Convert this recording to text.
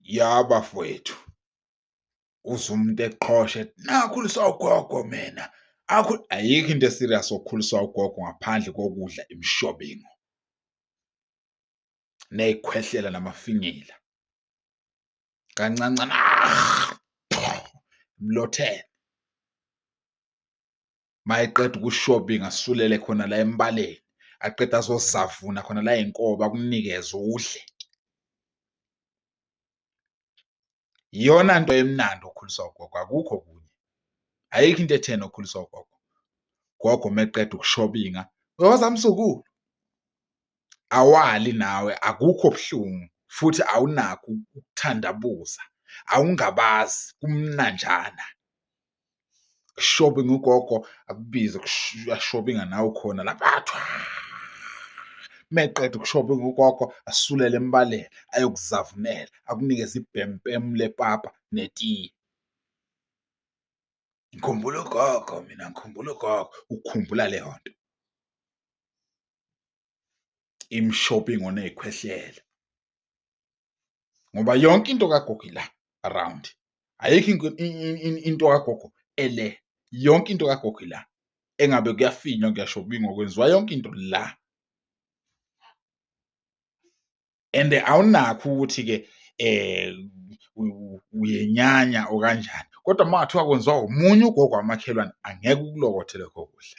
Ya bafowethu uze umuntu eqhoshe nakhuliswa ugogo mina akhu ayikho into eserious okhuliswa ugogo ngaphandle kokudla imishobingo neyikhwehlela namafinyila kancancana mlothele mayeqeda uku-shopping asulele khona la embaleni aqeda azozavuna khona la inkoba kunikeze udle iyona nto emnandi okhuliswa ugogo akukho kunye ayikho into etheni okhuliswa ugogo gogo meqeda ukushobinga uyoza msukulu awali nawe akukho buhlungu futhi awunakho ukuthandabuza awungabazi kumnanjana shopping ugogo akubize uyashoppinga nawe khona lapha meqeda ukushoppinga ugogo asulele embaleni ayokuzavumela akunikeze ibhempem lepapa netiye ngikhumbula ugogo mina ngikhumbula ugogo ukhumbula leyo nto im shopping oneyikhwehlela ngoba yonke into kagogo ila around ayikho into kagogo ele yonke into kagogo ila engabe kuyafinywa kuyasho kubingwa kwenziwa yonke into la and awunakho ukuthi ke eh uyenyanya okanjani kodwa uma ngathiwa kwenziwa umunye ugogo wamakhelwane angeke ukulokothele kho kuhle